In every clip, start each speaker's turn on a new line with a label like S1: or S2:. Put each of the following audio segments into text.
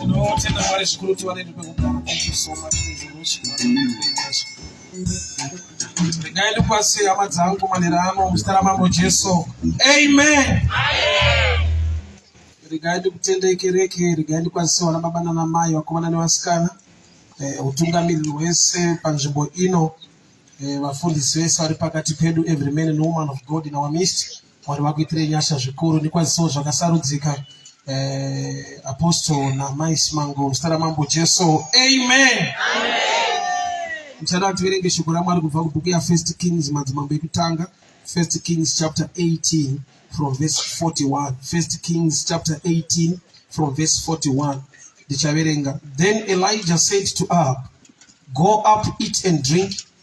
S1: tinotenda mwari zvikuru kuti vane ndipekugara thank you so much resolution regai ndipase hama dzangu manera ano muzita ramambo jesu amen regai ndikutendei kereke regai ndikwazise vana baba nana mai vakomana nevasikana eh, utungamiriri hwese panzvimbo ino eh, vafundisi vese vari pakati pedu every man and woman of god in our midst Mwari vakuitire nyasha zvikuru nekwazisawo zvakasarudzika eh, apostle namai simango zita ramambo jesu amen, muchada tiverenge shoko ramwari kubva kubhuku yafirst kings madzimambo ekutanga first kings chapter 18 from verse 41 first kings chapter 18 from verse 41 ndichaverenga then elijah said to ahab go up eat and drink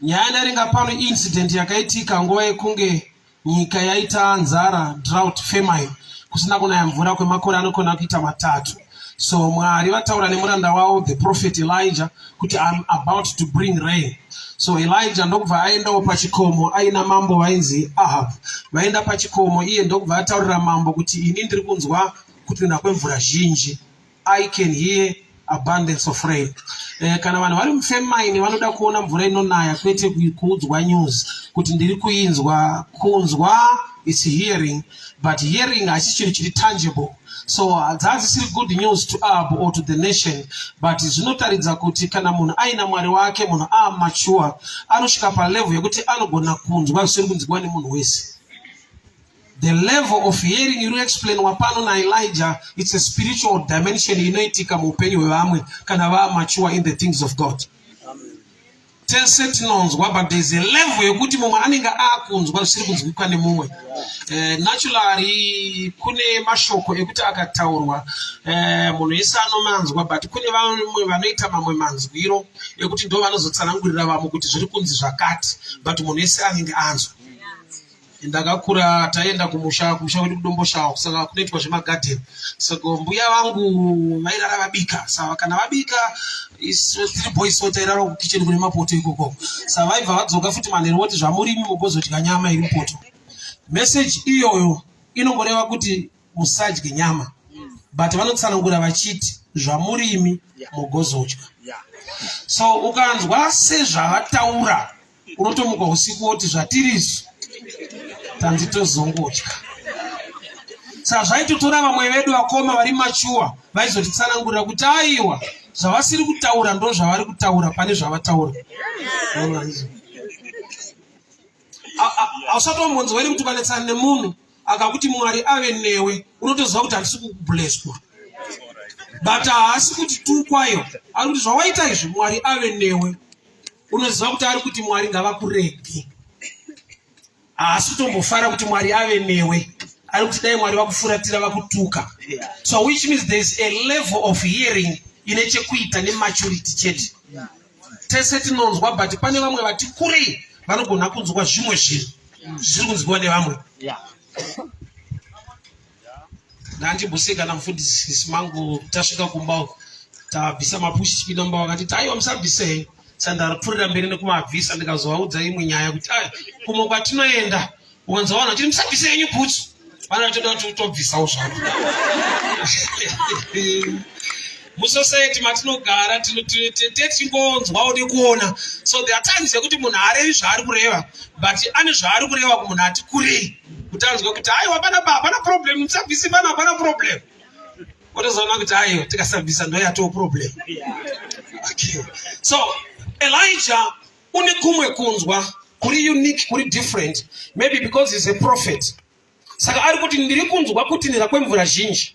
S1: Nyaya yanaringa pano incident yakaitika nguva yekunge nyika yaita nzara drought famine kusina kunaya mvura kwemakore anokona kuita matatu so mwari vataura nemuranda wavo the prophet elija kuti im about to bring rain so elija ndokubva aendawo pachikomo aina mambo vainzi ahab vaenda pachikomo iye ndokubva ataurira mambo kuti ini ndiri kunzwa kutinha kwemvura zhinji I can hear abundance of rain. Eh, kana vanhu vari mufemaini vanoda kuona mvura inonaya kwete kuudzwa news kuti ndiri kuinzwa kunzwa is hearing but hearing hasi chinhu chiri tangible so dzadzisiri good news to ab or to the nation but zvinotaridza kuti kana munhu aina mwari wake munhu aamature anosvika palevel yekuti anogona kunzwa zvisiri kunzwiwa nemunhu wese The level of hearing iri explainwa pano naElijah it's a spiritual dimension inoitika muupenyu hwevamwe kana vaamature in the things of God. Tese tinonzwa but there's a level yekuti mumwe anenge akunzwa zvisiri kunzwikwa nemumwe. Eh, naturally kune mashoko ekuti akataurwa eh, munhu wese anomanzwa but kune vamwe vanoita mamwe manzwiro ekuti ndo vanozotsanangurira vamwe kuti zviri kunzi zvakati but munhu wese anenge anzwa. ndakakura taienda kumusha kumusha kwedu kudomboshawa saka kunoitwa zvemagadheni saka mbuya vangu vairara vabika saka kana vabika three boys so tairara kukicheni kune mapoto ikoko saka vaibva vadzoka futi manheru voti zvamurimi mugozodya nyama iri mupoto meseji iyoyo inongoreva kuti musadye nyama but vanotsanangura vachiti zvamurimi mugozodya so ukanzwa sezvavataura unotomuka usiku woti zvatiri izvi tanzi tozongodya saka zvaitotora vamwe vedu vakoma vari machuwa vaizotitsanangurira kuti aiwa zvavasiri kutaura ndo zvavari kutaura pane zvavataura ausatombonzi wairi kuti vanetsana nemunhu akakuti mwari ave newe unotoziva kuti handisi kubleswa but haasi kuti tukwayo ari kuti zvawaita izvi mwari ave newe unoziva kuti ari kuti mwari ngavakurege haasi kutombofara kuti mwari ave newe ari kuti dai mwari vakufuratira vakutuka so which means there is a level of hearing ine chekuita nematurity chete tese tinonzwa but pane vamwe vati kurei vanogona kunzwa zvimwe zvinhu zvisiri kunzwiwa nevamwe Nandi Buse kana mfundisi mangu tasvika kumba uko tabvisa mapushi chipinda mumba vakati taiwa musabvise sandaripfurira mberi nekumabvisa ndikazovaudza imwe nyaya kuti ai kumwe kwatinoenda wanza vanhu vachiti musabvise yenyu bhutsu vana vatoda kuti utobvisawo zvako musociety matinogara tichingonzwawo nekuona so there are times yekuti munhu arevi zvaari kureva but ane zvaari kureva kumunhu ati kurei kuti anzwe kuti aiwa panapa hapana problem musabvisi pano hapana problem otozoona kuti aiwa tikasabvisa ndo yatoo problem okay. so elijah une kumwe kunzwa kuri unique kuri different maybe because he's a prophet saka ari kuti ndiri kunzwa kutinhira kwemvura zhinji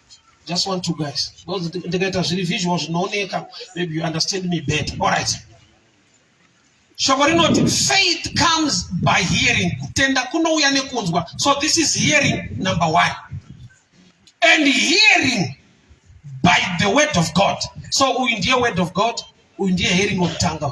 S1: just want to guys because ndikaita zviri visual zvinooneka maybe you understand me better all right shoko rinoti faith comes by hearing kutenda kunouya nekunzwa so this is hearing number one and hearing by the word of god so uyu ndiye word of god uyu ndiye hearing wekutanga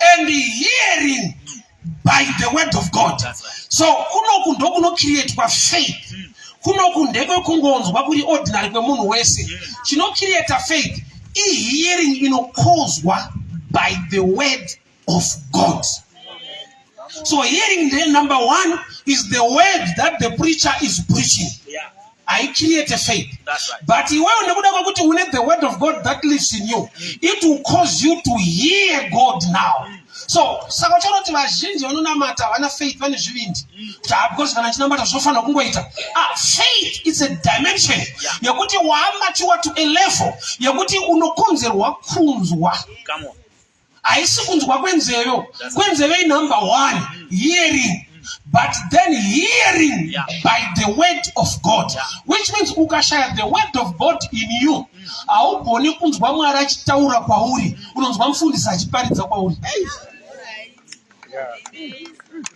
S1: and hearing by the word of God. So kunoku ndokunocreatwa faith kunoku ndekwekungonzwa kuri ordinary kwemunhu wese chinocreata faith ihearing inokozwa by the word of God. So hearing the number one is the word that the preacher is preaching. I create a faith. That's right. But you want to une the word of God that lives in you. It will cause you to hear God now. Mm. So, saka uchanoti vazhinji vanonamata havana faith vane zvivindi. Mm. Ah, because kana chinamata zvofanira kungoita. Ah, faith is a dimension yeah. yekuti waamatiwa to a level yekuti unokonzerwa kunzwa. Come on. haisi kunzwa kwenzeve kwenzeve inumber one hearing but then hearing yeah. by the word of god yeah. which means ukashaya the word of god in you mm. haugoni mm. kunzwa mwari achitaura kwauri mm. unonzwa mufundisi achiparidza kwauri yeah.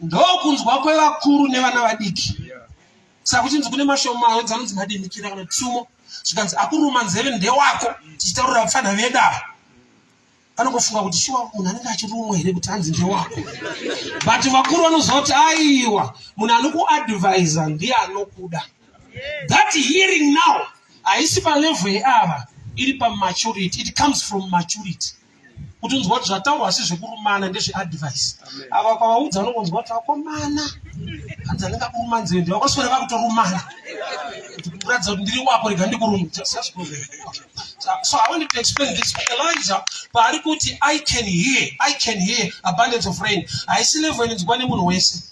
S1: ndokunzwa kwevakuru nevana vadiki saka kuchinzi kune mashoma ayo dzanonzi madimikira kana tsumo zvikanzi akuruma nzeve ndewako tichitaurira vapfanha veda anongofunga kuti shuwa munhu anenge achirumwa here kuti hanzi ndewako but vakuru vanozoti aiwa munhu anokuadvisa ndiye anokuda that hearing now haisi palevel yeava iri pamaturity it comes from maturity kuti unzwa kuti zvataurwa asi zvekurumana ndezveadvice ava kwavaudza vanongonzwa kuti vakomana hanzi anenge akuruma nzeve ndi vakoswera vakutorumana kuti kuratidza kuti ndiri wako rega ndikuruma so i wanted to explain this elijah paari kuti i can hear i can hear abundance of rain haisi level inonzwa nemunhu wese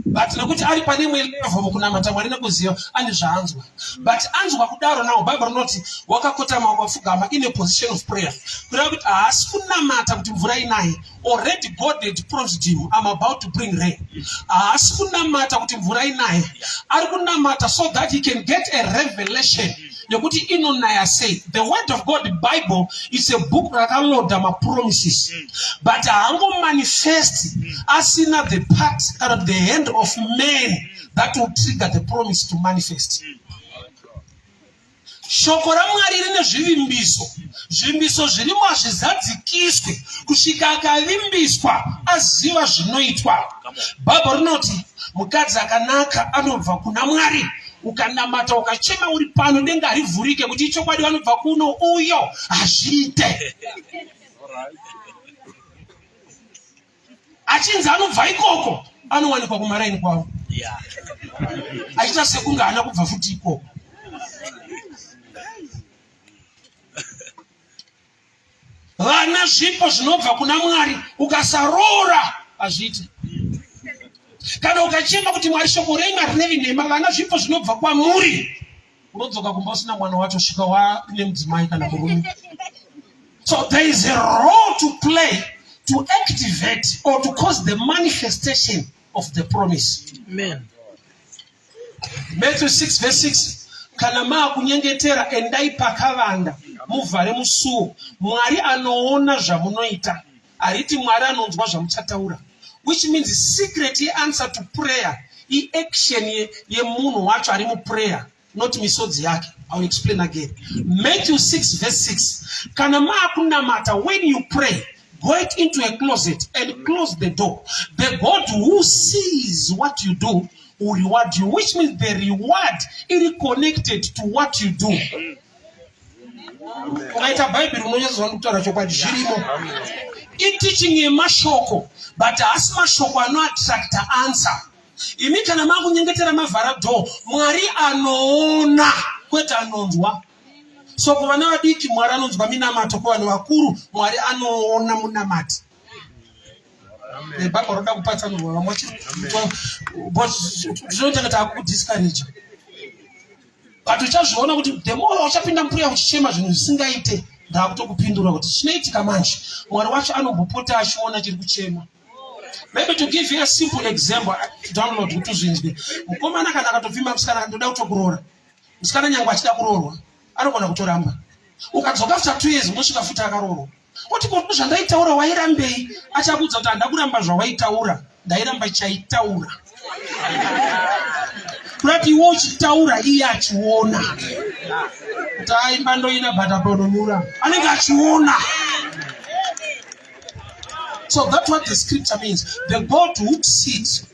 S1: but nokuti ari pane imwe levo mukunamata mwari nekuziva ane zvaanzwa but anzwa kudaro nawo bhaibheri rinoti wakakotama wakapfugama ine position of prayer kureva kuti haasi kunamata kuti mvura inaye already god had promised him am about to bring rain haasi kunamata kuti mvura inaye ari kunamata so that he can get a revelation nekuti inonaya sei the word of god bible is a book rakaloda mapromises mm. but haangomanifesti mm. asina the part kana the hand of man mm. that will trigger the promise to manifest mm. shoko ramwari rine zvivimbiso zvivimbiso zvirimo hazvizadzikiswe kusvika akavimbiswa aziva zvinoitwa bhaibho rinoti mukadzi akanaka anobva kuna mwari ukanamata ukachema uri pano denga harivhurike kuti ichokwadi vanobva kuno uyo hazviite achinzi anobva ikoko anowanikwa kumaraini kwavo achiita sekunge haana kubva futi ikoko vana zvipo zvinobva kuna mwari ukasaroora hazviite kana ukachema kuti mwari shoko renyu harirevi nhema vana zvipo zvinobva kwamuri unodzoka kumba usina mwana wacho svika waine mudzimai kana murume so there is a role to play to activate or to cause the manifestation of the promise Amen. Matthew 6 verse 6 kana maakunyengetera endai pakavanda muvhare musuo mwari anoona zvamunoita hariti mwari anonzwa zvamuchataura which means secret yeanswer to prayer iaction yemunhu ye wacho ari muprayer not misodzi yake iwill explain again matthew 6 verse 6 kana maakunamata when you pray Go it into a closet and close the door. The God who sees what you do will reward you, which means the reward is connected to what you do. ukaita bhaibheri unonyatsozva ndikutaura chokwadi zvirimo itiching yemashoko but haasi mashoko anoattracta answer imi kana makunyengetera mavhara door mwari anoona kwete anonzwa so kuvana vadiki mwari anonzwa minamato kuvanhu vakuru mwari anoona munamati nebaba roda kupatsanurwa vamwe vachitinotenga taakudiscourage but uchazviona kuti the more uchapinda mbuya uchichema zvinhu zvisingaite ndaakutokupindura kuti chinoitika manje mwari wacho anombopota achiona chiri kuchema maybe to give you a simple example to download kuti uzvinzwe mukomana kana akatopfima musikana ndoda kutokuroora musikana nyangwe achida kuroorwa anogona kutoramba ukadzoka after two years unosvika futi akaroorwa oti ko zvandaitaura wairambei achakuudza kuti handa kuramba zvawaitaura ndairamba chaitaura kurati iwe uchitaura iye achiona kuti aimba ndoina bhataponomura anenge achiona so that what the scripture means the god who sees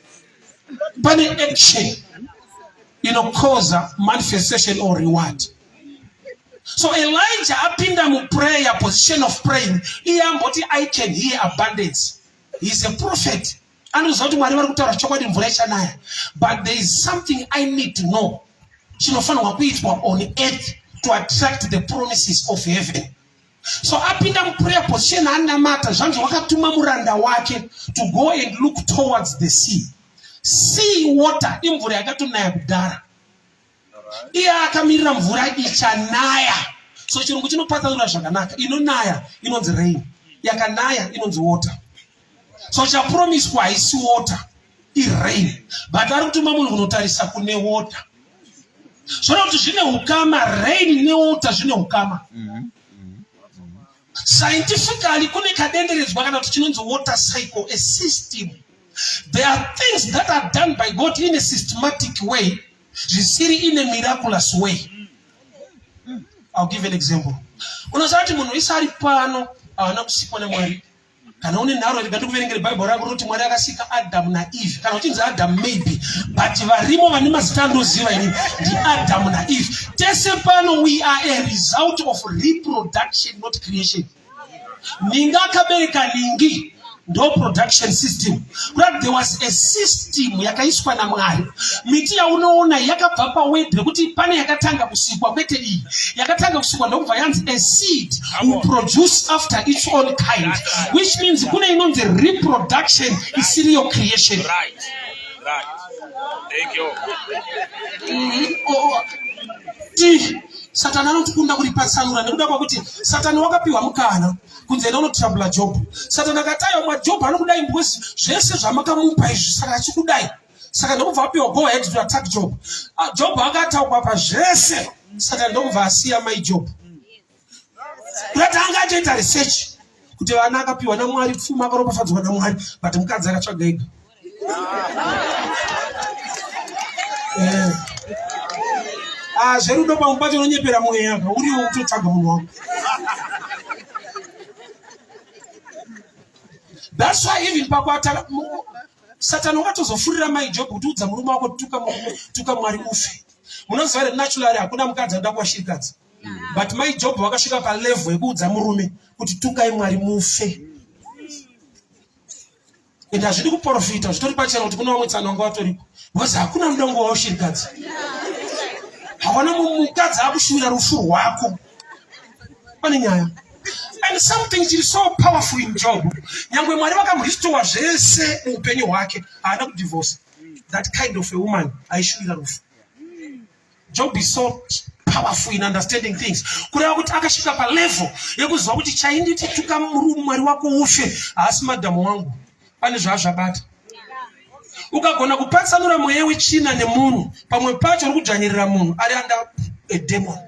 S1: pane action inokoza manifestation or reward so elijah apinda muprayer position of praying iye amboti i can hear abundance he is a prophet anoziva kuti mwari vari kutaura chokwadi mvura ichanaya but there is something i need to know chinofanirwa kuitwa on earth to attract the promises of heaven So apinda muprayer position anamata zvanzi wakatuma muranda wake to go and look towards the sea. Sea water imvura yakatonaya kudhara. Iye akamirira mvura ichanaya. So chirungu chinopatsanura zvakanaka. Inonaya inonzi rain. Yakanaya inonzi water. So chapromiswa haisi water. irain but ari kutuma munhu kunotarisa kune water zvona kuti zvine ukama rain newater zvine ukama mm -hmm. scientifically kune kadenderedzwa kana kuti chinonzi water cycle a system there are things that are done by god in a systematic way zvisiri in a miraculous way ill give an example unoziva kuti munhu wese ari pano haana kusikwa nemwari kana une nharo rega ndikuverengere bhaibheri rako rinoti mwari akasika adamu naeve kana uchinzi adamu maybe but varimo vane mazita andoziva ini ndiadamu naeve tese pano we are a result of reproduction not creation ninga akabereka ningi ndo production system But there was a system yakaiswa naMwari. Miti yaunoona yakabva pawebhu yekuti pane yakatanga kusikwa kwete iyi. Yakatanga kusikwa ndokubva yanzi a seed will produce after its own kind which means kune inonzi reproduction isiri yo creation. Right. Right.
S2: Thank you. Mm -hmm. oh. oh.
S1: Satani anotikunda kuripatsanura nekuda kwakuti Satani wakapiwa mukana kunze enda unotirabula job satani akati aiwa majob anokudai because zvese zvamakamupa izvi saka achikudai saka ndokubva apiwa go ahead to attack job ah, job akataukwa pa zvese saka ndokubva asiya mai job kutati anga atoita research kuti vana akapiwa namwari pfuma akaropafadzwa namwari but mukadzi akatsvaga ega Eh. Ah, zverudo pangu pacho unonyepera mweya uriwo kutotsvaga munhu wako thats why even pakuatara satani wakatozofurira mai job kuti udza murume wako tuka mwari ufe munoziva here naturally hakuna mukadzi anoda kuwashirikadzi but mai job vakasvika palevel yekuudza murume kuti tukai mwari mufe and hazvidi kuprofita zvitori pachena kuti kuna vamwe tsano vanga vatoripo because hakuna mudongo wavo shirikadzi hawana mukadzi akushuvira rufu rwako pane nyaya and something chiri so powerful in job nyangwe mwari vakamuristowa zvese muupenyu hwake haana kudivorce that kind of a woman aishuvira rufu Job is so powerful in understanding things kureva kuti akasvika palevel yekuziva kuti chainditi tuka mwari wako ufe haasi madhamu wangu pane zvaazvabata ukagona kupatsanura mweya wechina nemunhu pamwe pacho uri kudzvanyirira munhu ari anda edemon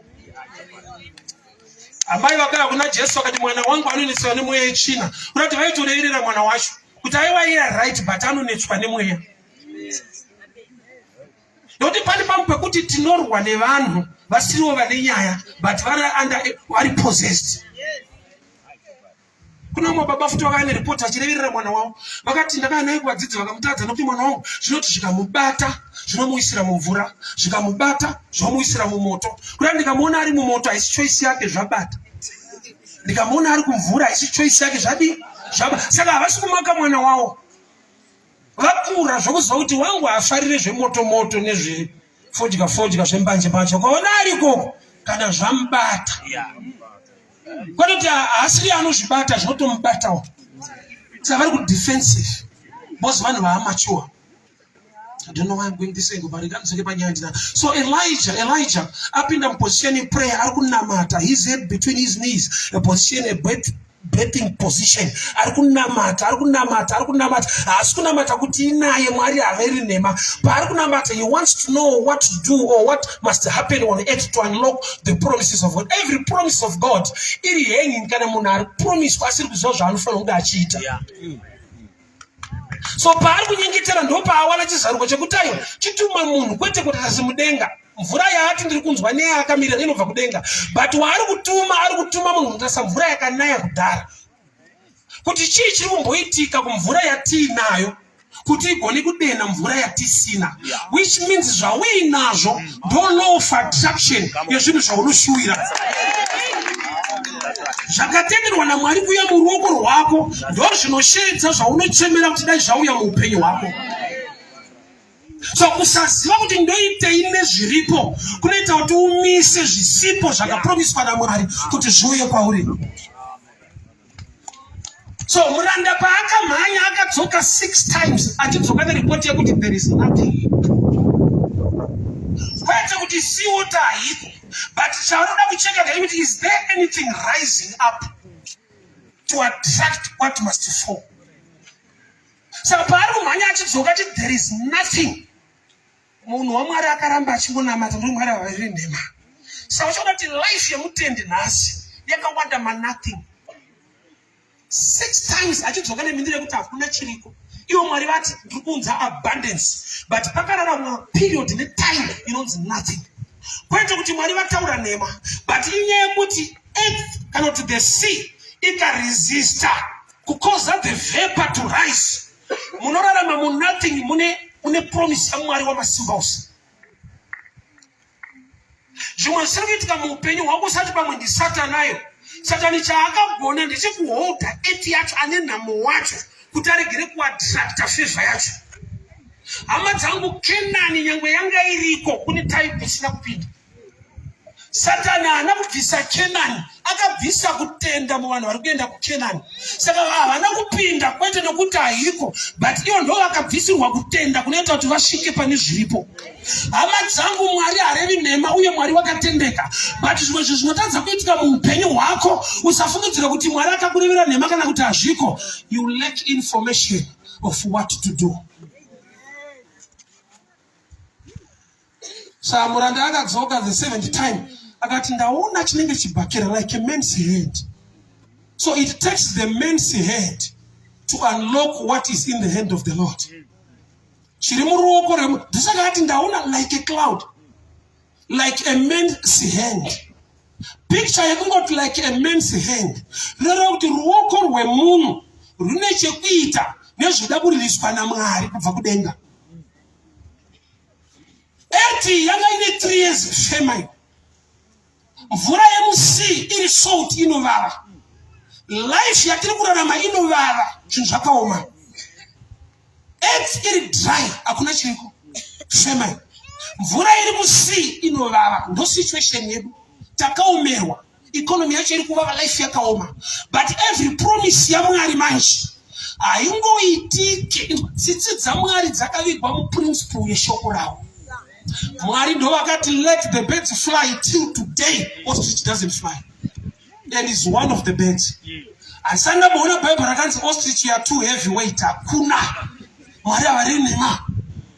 S1: amai vakara kuna jesu vakati mwana wangu anonetswa nemweya yechina kuda kuti vaitoreerera mwana wacho kuti aiwa iye right but anonetswa nemweya nokuti pane pamwe pekuti tinorwa nevanhu vasiriwo vane nyaya but vari under vari possessed kuna umwe baba futi vakava neripoti achireverera mwana wavo vakati ndakava naye kuvadzidzi vakamutadza nokuti mwana wangu zvinoti zvikamubata zvinomuwisira mumvura zvikamubata zvinomuwisira mumoto kuda ndikamuona ari mumoto haisi choisi yake zvabata ndikamuona ari kumvura haisi choisi yake zvadii zvaba saka havasi kumaka mwana wavo vakura zvokuziva kuti wangu haafarire zvemotomoto nezvefodya fodya zvembanje mbanje ukaona arikoko kana zvamubata kwanoti haasiri anozvibata zvinotomubatawo saka vari kudefensive bcause vanhu vaamachuwa I don't know why I'm going this way but regardless of the So Elijah, Elijah, up in the position in prayer, I couldn't he's head between his knees, a position a bed betting position ari kunamata ari kunamata ari kunamata haasi kunamata kuti inaye mwari haveri nhema paari kunamata he wants to know what to do or what must happen on earth to unlock the promises of god every promise of god iri hanging kana munhu ari promiswa asiri kuziva zvaanofanira kunge achiita yeah. mm. so paari kunyengetera ndopaawana chizaruko chekuti aiwa chitumwe munhu kwete kuti tasimudenga mvura yaati ndiri kunzwa neye akamira inobva kudenga but waari kutuma ari kutuma munhu kutarisa mvura yakanaya kudhara kuti chii chiri kumboitika kumvura yatiinayo kuti igone kudena mvura yatisina which means zvauinazvo ndo law of attraction yezvinhu zvaunoshuwira zvakatenderwa namwari kuya muruoko rwako ndo zvinosheedza zvaunochemera kuti dai zvauya muupenyu hwako so kusaziva kuti ndoitei nezviripo kunoita kuti umise zvisipo zvakapromiswa namwari kuti zviuye kwauri so muranda paakamhanya akadzoka six times achidzoka neripoti yekuti there is nothing kwete kuti siota haiko but chaunoda kucheka ndechekuti is there anything rising up to attract what must fall saka paari kumhanya achidzoka ti there is nothing Munhu waMwari akaramba achingonamata ndomwari vaviri nhema. Saka uchaona kuti life yemutendi nhasi yakawanda manothing. Six times achidzoka nemhindiro yekuti hakuna chiriko. Ivo Mwari vati ndiri kuunza abundance but pakararama period netime inonzi nothing. Kwete kuti Mwari vataura nhema but inyaya yekuti earth kana kuti the sea ikaresista kukoza the vapor to rise munorarama mu nothing mune mune promise yamwari wamasimba ose zvimwe zvisiri kuitika muupenyu hwako usati pamwe ndisatanayo satani chaakagona ndechekuholda eti yacho ane nhamo wacho kuti aregere kuatrakta fevha yacho hama dzangu kenani nyange yanga iriko kune taipi isina kupinda satani haana kubvisa kenani akabvisa kutenda muvanhu vari kuenda kukenani saka havana kupinda kwete nokuti haiko but ivo ndo vakabvisirwa kutenda kunoita kuti vasvike pane zviripo hama dzangu mwari harevi nhema uye mwari wakatendeka but zvimwe zvinhu zvinotadza kuitika muupenyu hwako usafungidzira kuti mwari akakurevera nhema kana kuti hazviko you lack information of what to do Samuranda akadzoka the seventh time akati ndaona chinenge chibhakera like a man's head so it takes the man's head to unlock what is in the hand of the lord chiri muruoko remu ndisaka ati ndaona like a cloud like a man's hand picture yekungoti like a man's hand rinoreva kuti ruoko rwemunhu rune chekuita nezvida kuririswa namwari kubva kudenga Eti yanga ine 3 years famine. Mvura yemusii iri salt inovava. Life yatiri kurarama inovava, zvinhu zvakaoma. Eti iri dry, hakuna chiriko. Famine. Mvura iri musii inovava, ndo situation yedu. Takaomerwa. economy yacho iri kuvava life yakaoma but every promise yamwari manje haingoitike tsitsi dzamwari dzakavigwa muprinciple yeshoko ravo mwari ndovakati let the birds fly till today ostrich doesn't fly and is one of the birds asi andamboona bhaibheri rakanzi ostrich ya two heavy weight hakuna mwari havari nema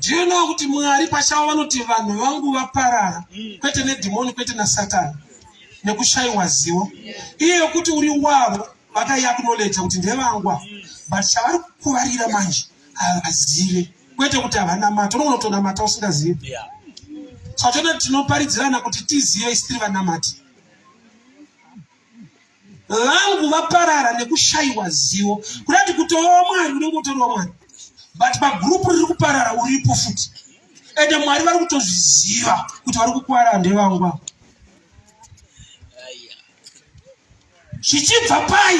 S1: Do you know kuti Mwari pachavo vanoti vanhu vangu vaparara mm. kwete nedhimoni kwete naSatani nekushaiwa zivo iye yokuti uri wavo vakaiaknoleja kuti ndevangwa mm. but chavari kukuvarira manje havazive kwete kuti havana mata unogona kutonamata usingazive yeah saka tinoda tinoparidzirana kuti tizive isi tiri vanamati vangu vaparara nekushaiwa zivo kuda kuti kutovawa mwari unenge utoriwa mwari but pagurupu riri kuparara uripo futi ende mwari vari kutozviziva kuti vari kukwara ndevangu vavo zvichibva pai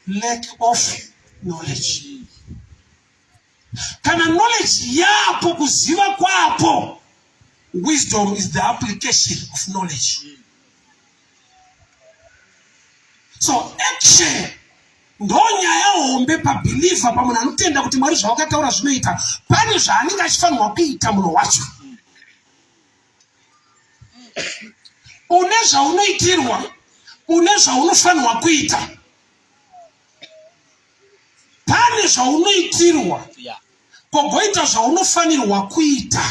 S1: lack of knowledge Kana knowledge yapo kuziva kwapo. Wisdom is the application of knowledge. So action ndonyaya hombe pabhilivha pamunhu anotenda kuti mwari zvawakataura zvinoita pane zvaanenge achifanirwa kuita munhu wacho une zvaunoitirwa une zvaunofanirwa kuita pane zvaunoitirwa kogoita zvaunofanirwa kuita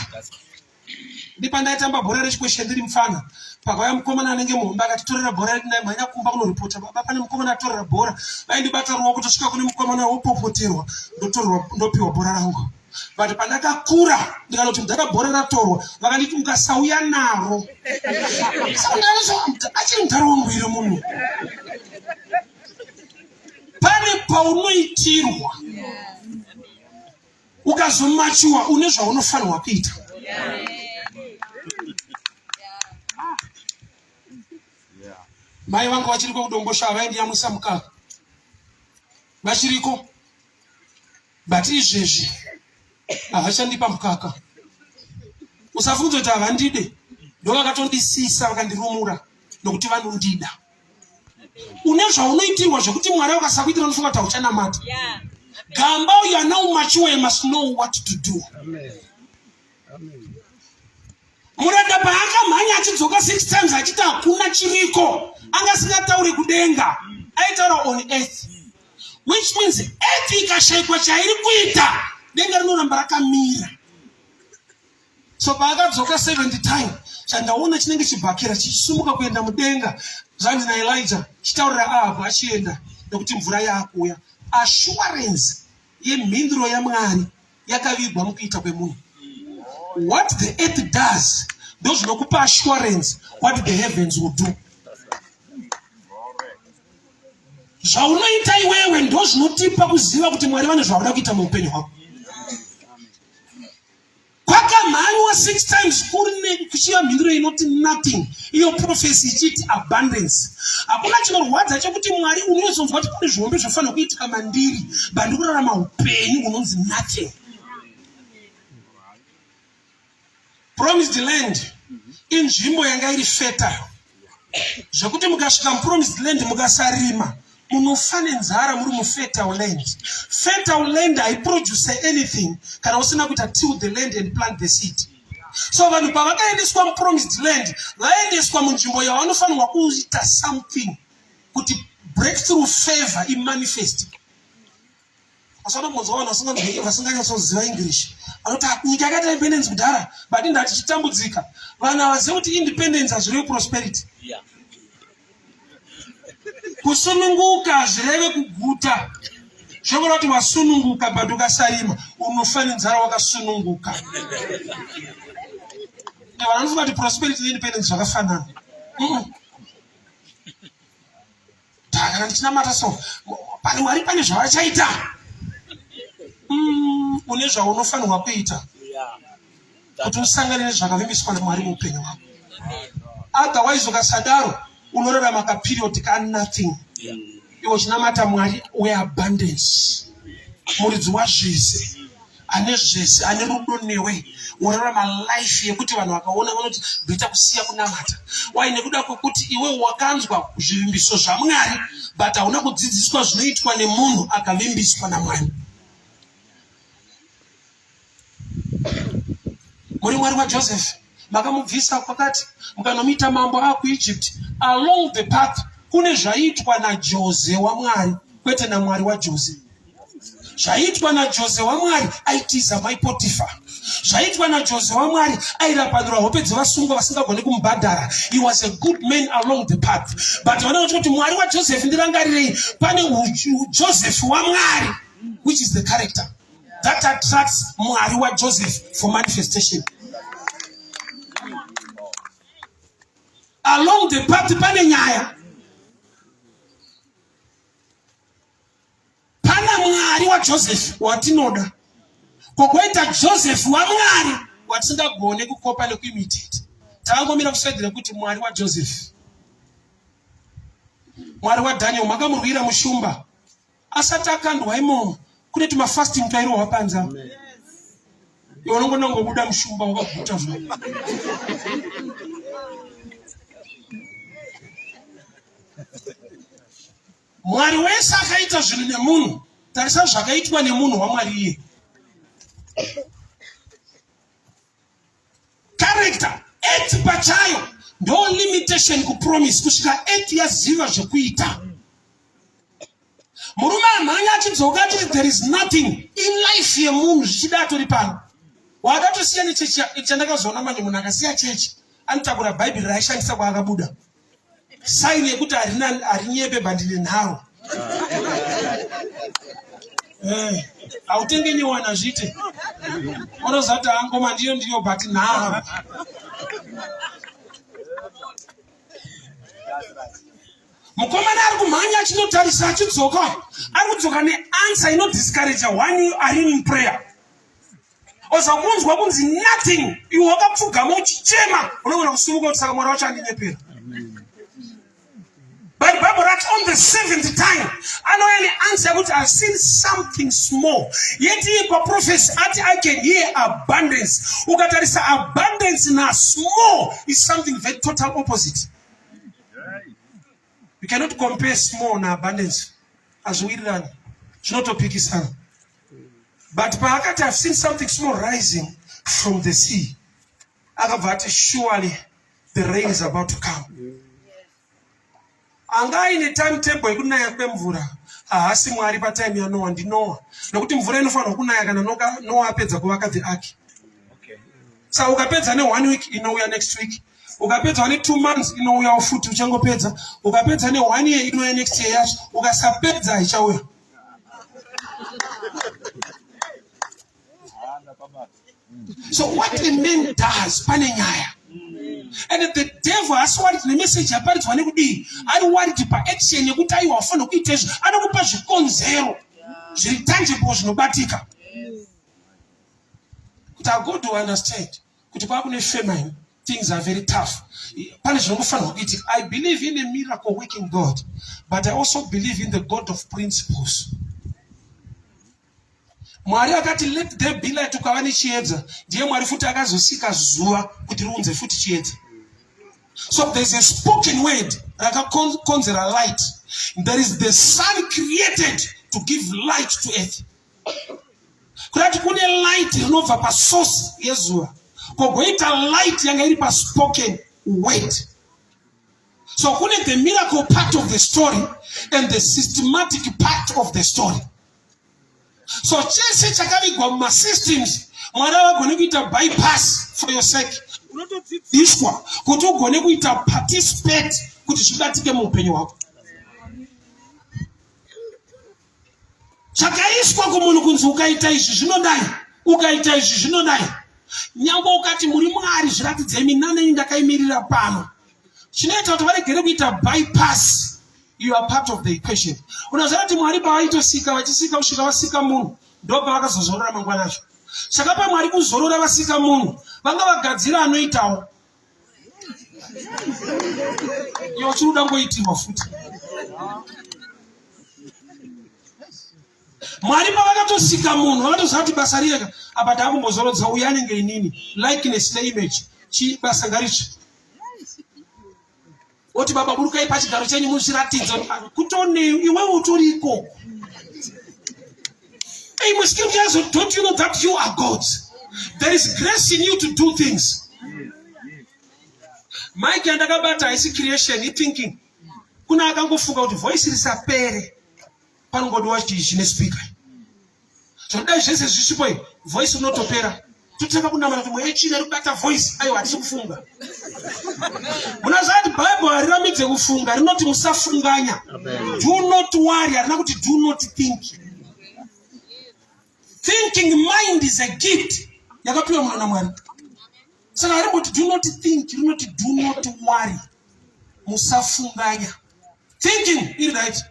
S1: ndipandaitamba bhora rechikweshe ndiri mufana pakauya mukomana anenge muhombe akatitorera bhora redu nai mhanya kumba kunoripota baba pane mukomana atorera bhora vaindibata ruoko tosvika kune mukomana wopopoterwa ndotorerwa ndopiwa bhora rangu but pandakakura ndikanoti mudhara bhora ratorwa vakanditi ukasauya naro achiri mudhara wangu iri munhu pane paunoitirwa ukazomachuwa une zvaunofanirwa kuita mai vanga vachiriko kudombosha vaindiyamwisa mukaka vachiriko but izvezvi havachandipa mukaka usafunge kuti havandide ndovakatondisisa vakandirumura nokuti vanondida une zvaunoitirwa zvekuti mwari vakasakuitira unofunga kuti hauchanamata gamba uyo ana umachiwa you must know what to do muranda paakamhanya achidzoka six times achiti hakuna chiriko anga asingatauri kudenga aitaura on earth which means earth ikashaikwa chairi kuita denga rinoramba rakamira so paakadzoka seventy time chandaona chinenge chibhakera chichisumuka kuenda mudenga zvanzi naelija chitaurira ahabhu achienda nekuti mvura yaakuuya assuarance yemhinduro yamwari yakavigwa mukuita kwemunhu what the earth does ndozvinokupa assuarance what the heavens will do zvaunoita iwewe ndozvinotipa kuziva kuti mwari vane zvavada kuita muupenyu hwako kwakamhanywa six times kuri nekuchiva mhinduro inoti nothing iyo profesi ichiti abundance hakuna chinorwadza chekuti mwari unozonzwa kuti kune zvihombe zvofanira kuitika mandiri bandikurarama upenyu unonzi nothing promised land inzvimbo yanga iri fetayo zvekuti mukasvika mupromised land mukasarima munofa nenzara muri mufertile land fertile land haiproduce anything kana usina kuita till the land and plant the seed so vanhu pavakaendeswa mupromised land vaendeswa munzvimbo yavanofanirwa kuita something kuti breakthrough favor imanifest asanombonzwa vanhu vasingamhei vasinganyatsoziva english anoti nyika yakaita independence kudhara but inda tichitambudzika vanhu havazive kuti independence hazvireve prosperity kusununguka hazvireve kuguta zvekuda kuti wasununguka but ukasarima unofanizara wakasununguka vanhu vanofunga kuti prosperity neindependence zvakafanana kana ndichinamata so pane mwari pane zvavachaita mm, une zvaunofanirwa kuita kuti usangane nezvakavimbiswa namwari muupenyu hwako otherwise ukasadaro unorarama kaperiod ka nothing iwo chinamata mwari weabundance muridzi wazvese ane zvese ane rudo newe worarama life yekuti vanhu vakaona vanoti bhita kusiya kunamata wai nekuda kwekuti iwe wakanzwa zvivimbiso zvamwari but hauna kudzidziswa zvinoitwa nemunhu akavimbiswa namwari muri mwari wajoseph wa makamubvisa kwakati mukanomuita mambo akuegypt along the path kune zvaiitwa najose wamwari kwete namwari wajose zvaiitwa najose wamwari aitiza mai potifa zvaiitwa najose wamwari airapanura hope dzevasungwa vasingagoni kumubhadhara he was a good man along the path but vanoda kuti kuti mwari wajoseph ndirangarirei pane joseph wamwari which is the character that attracts mwari wajoseph for manifestation along the party pane nyaya pana mwari wajoseph watinoda kokoita joseph wamwari watisingagone kukopa nekuimitita taangomira kuswedera kuti mwari wajoseph mwari wadaniel makamurwira mushumba asati akandwa imomo kune tumafasting twairohwa panze apo iwe unongona kungobuda mushumba wakaguta zvo mwari wese akaita zvinhu nemunhu tarisa zvakaitwa nemunhu wamwari iye character age pachayo ndo limitation kupromise kusvika age yaziva zvekuita murume amhanya achidzoka achiti there is nothing in life yemunhu zvichida atori pano wada tosiya nechechi chandakazoona manje munhu akasiya chechi anotakura bhaibheri raishandisa kwaakabuda saini yekuti harinyepe bandine nharo eh, hautenge nyewana zvite unozati angoma ndiyo ndiyo but nharo mukomana ari kumhanya achinotarisa achidzoka ari kudzoka neansa inodiscouraja one ari muprayer ozokunzwa kunzi nothing iwe wakapfugama uchichema unogona kusimuka kuti saka mwari wacho andinyepera but bible rati on the seventh time anouya neansa yekuti ihave seen something small yet iye paprofesi ati i can hear abundance ukatarisa abundance nasmall is something very total opposite You cannot compare small na abundance. Azviwirirani. Zvinotopikisana. But paakati I've seen something small rising from the sea. Akabva ati surely the rain is about to come. Anga aine timetable yekunaya kwemvura. Haasi Mwari patime yaNoah ndiNoah. Nokuti mvura inofanirwa kunaya kana Noah apedza kuvaka the ark. sa ukapedza ne one week inouya next week ukapedza ne two months inouyawo futi uchangopedza ukapedza ne one year inouya next year yacho ukasapedza ichauya so what a man does pane nyaya and the devil asi wari tine message yaparidzwa nekudii ari wari ti paaction yekuti aiwa wafanira kuita izvo anokupa zvikonzero zviri tangible zvinobatika kuti i go to understand kuti kwakune famine things are very tough pane zvinongofanirwa kuitika i believe in a miracle working god but i also believe in the god of principles mwari akati let the be light ukava nechiedza ndiye mwari futi akazosika zuva kuti riunze futi chiedza so there's a spoken word rakakonzera light there is the sun created to give light to earth kudati kune light rinobva pasource yezuva kogoita light yanga iri paspoken word so kune the miracle part of the story and the systematic part of the story so chese chakavigwa mumasystems mwari avagone kuita bypass for your sake unotodzidziswa kuti ugone kuita participate kuti zvibatike muupenyu hwako zvakaiswa kumunhu kunzi ukaita izvi zvinodai ukaita izvi zvinodai nyangwe ukati muri mwari zviratidzei minanei ndakaimirira pano chinoita kuti varegere kuita bypass you are part of the equation unoziva kuti mwari pavaitosika vachisika kusvika vasika munhu ndo pavakazozorora mangwana acho saka pamwari kuzorora vasika munhu vanga vagadzira anoitawo Iyo chinoda ngoitirwa futi. Mwari pavakatosika munhu vakatoziva kuti basa riyeka apa taakumbozorodza uye anenge inini likeness neimage chi basa ngarichi oti baba burukai pachigaro chenyu muzviratidza kutone iwewe utoriko ei musikiri kuyazo don't you know that you are god there is grace in you to do things mike yandakabata haisi creation ithinking kuna akangofunga kuti voice risapere panongodiwa chine speaker so dai zvese zvisipo voice unotopera totanga kunamata kuti mweya china rikubata voice ayo hatisi kufunga munazati bible hariramidze kufunga rinoti musafunganya do not worry harina kuti do not think thinking mind is a gift yakapiwa mwana namwari saka harimboti do not think rinoti do not worry musafunganya thinking iri right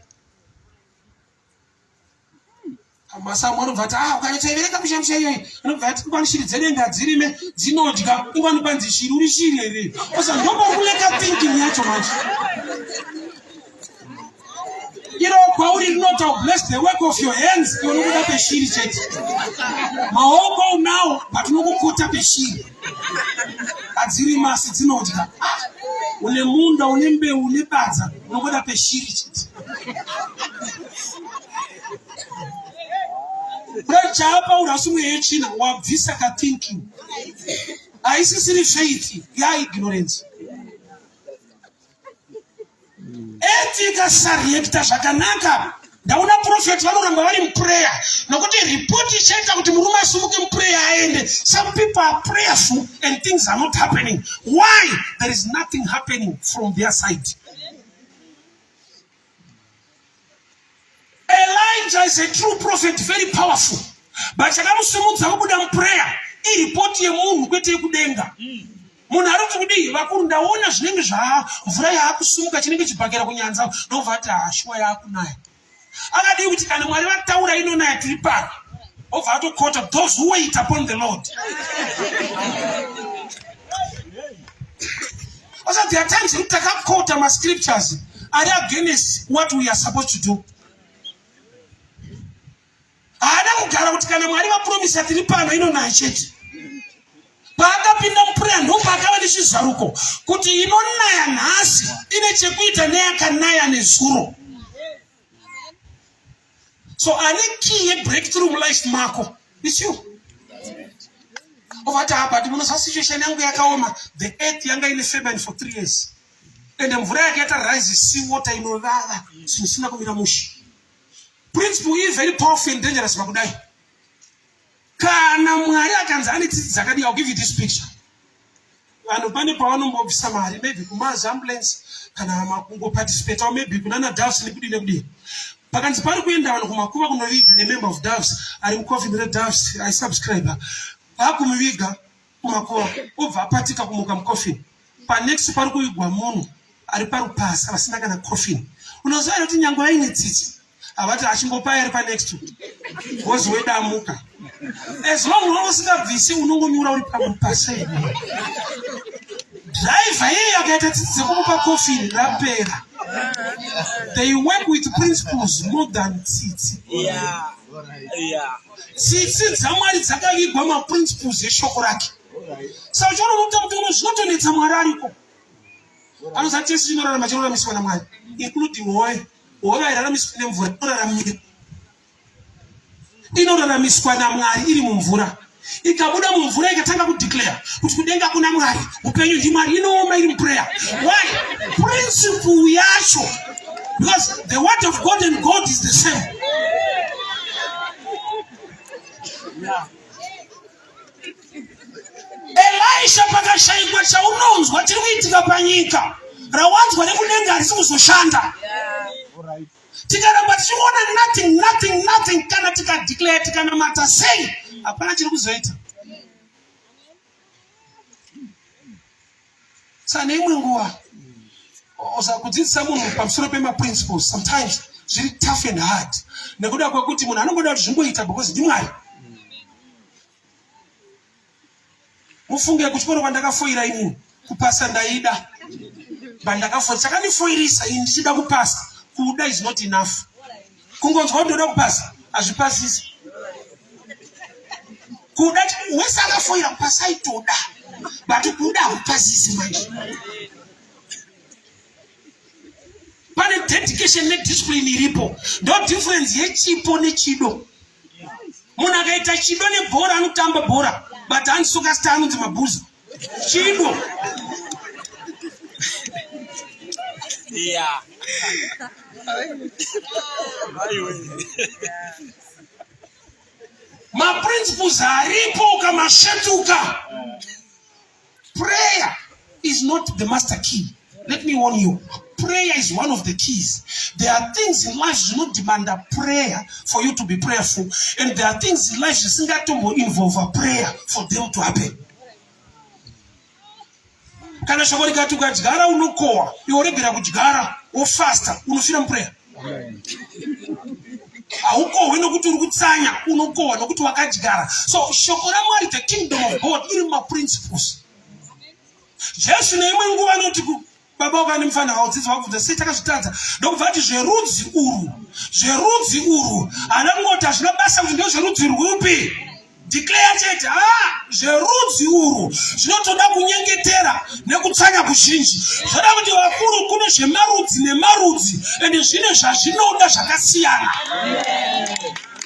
S1: masamu anobva ati ah ukanyatsaiverenga mushamusha iyoyi anobva ati ingwani shiri dzedenga dzirime dzinodya ingwani panzi shiri uri shiri here osa ndokokuleka thinking yacho manje iro kwauri rinota bless the work of your hands iwe nokuda peshiri chete maoko unawo but nokukota peshiri adziri masi dzinodya une munda une mbeu une badza unongoda peshiri chete rechaapa urasumwe yechina wabvisa kathinking haisisiri faith yaignorance eti ikasareacta zvakanaka ndaona profet vanoramba vari muprayer nokuti report ichaita kuti murume asumuke muprayer aende some people are prayerful and things are not happening why there is nothing happening from their side Elijah is a true prophet, very powerful. But chakamusimudza kubuda muprayer iripoti yemunhu kwete yekudenga. Munhu ari kuti kudii vakuru ndaona zvinenge zvaa mvura yaakusimuka chinenge chibhakera kunyanza ndobva ati hashuwa ah, yaakunaya. Akadii kuti kana Mwari vataura inonaya tiri pano. Obva atokota those who wait upon the Lord. Because there are times you take up court and scriptures are against what we are supposed to do. Haada kugara kuti kana Mwari vapromisa tiri pano ino naye chete. Paakapinda mupureya ndomba akava nechizaruko kuti inonaya nhasi ine chekuita neyakanaya nezuro. so ane key yebreakthrough mulife mako its you ovati apa ti munosa situation yangu yakaoma the earth yanga ine famine for three years and mvura yake yatarise sea water inovava zvinosina kuvira mushi principle iyi very powerful and dangerous pakudai Kana Mwari akanzi ane tsitsi dzakadii, I'll give you this picture. Vanhu pane pavanombobvisa mari maybe kumazi ambulance kana makungo participate or maybe kunana doves nekudii nekudii. Pakanzi pari kuenda vanhu kumakuva kunoviga a member of doves ari mucoffin redoves I subscriber. Vakumuviga Kurokowa obva apatika kumuka mucoffin. Panext pari kuigwa munhu ari parupasa vasina kana coffin. Unoziva kuti nyangwe vaine tsitsi havati achimbopai ari panext wozi wedamuka. As long wanga usingabvisi unongonyura uri pamupasa iwe. Driver yeye akaita tsitsi dzekumupa coffin rapera. They work with principles more than tsitsi. Yeah. Yeah. tsitsi dzamwari dzakavigwa maprinciples eshoko rake saka uchiona unokuta kuti uno zvinotonetsa mwari ariko anoza tese chinorarama chinoraramiswa namwari including hove hove airaramiswa nemvura inoraramira inoraramiswa namwari iri mumvura ikabuda mumvura ikatanga kudeclare kuti kudenga kuna mwari upenyu chimari inooma iri muprayer why principle yacho because the word of god and god is the same yeah. elisha pakashaikwa chaunonzwa chiri kuitika panyika rawanzwa nekudenga harisi kuzoshanda tikaramba tichiona nothing nothing nothing kana tikadeclare tikanamata sei hapana chiri kuzoita tsane imwe nguva osa kudzidzisa munhu pamusoro pemaprinciples sometimes zviri tough and hard nekuda kwekuti munhu anongoda kuti zvimboita because ndimwari mufunge kuchikoro kwandakafoira inini kupasa ndaida bandakafoira chakandifoirisa ini ndichida kupasa kuda is not enough kungonzwa kuti ndoda kupasa hazvipasisi kuda wese akafoira kupasa aitoda but kuda hakupasisi manje pane dedication nediscipline iripo ndo difference yechipo nechido munhu akaita chido nebhora anotamba bhora but handisoka sta anonzi mabhuza Chipo. Yeah. maprinciples aripo ukamasvetuka prayer is not the master key Let me warn you. Prayer is one of the keys. There are things in life do not demand a prayer for you to be prayerful. And there are things in life that do not involve a prayer for them to happen. kana shoko rikati ukadyara unokohwa iwe uregera kudyara wofasta unofira mupureya haukohwe nokuti uri kutsanya unokohwa nokuti wakadyara so shoko ramwari the kingdom of god iri mumaprinciples Jesu neimwe nguva anoti baba wako ane mufana wavo dzidzi vakubvunza sei takazvitadza ndokubva ati zverudzi urwu zverudzi urwu ana ngoti hazvina basa kuti ndo zverudzi rwupi declare chete ha ah, zverudzi urwu zvinotoda kunyengetera nekutsanya kuzhinji zvoda kuti vakuru kune zvemarudzi nemarudzi ende zvine zvazvinoda zvakasiyana yeah.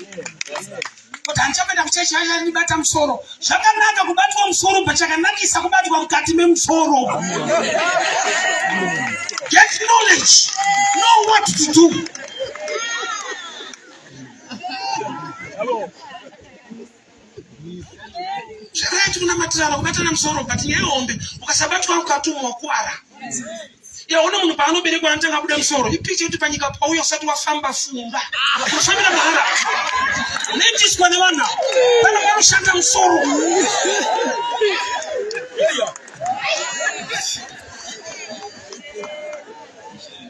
S1: Yeah. Yeah. kuti handichakuenda kuchechi haya ndibata musoro zvakanaka kubatwa musoro pachakanakisa kubatwa mukati memusoro get knowledge know what to do zvakaya tikunamatira vakubatana musoro but nyaya hombe ukasabatwa mukati umwe wakuwara yaona munhu paanoberekwa anotanga kubuda musoro ipicha kuti panyika pauya usati wafamba funga kufambira mahara netiswa nevana vana vanoshanda musoro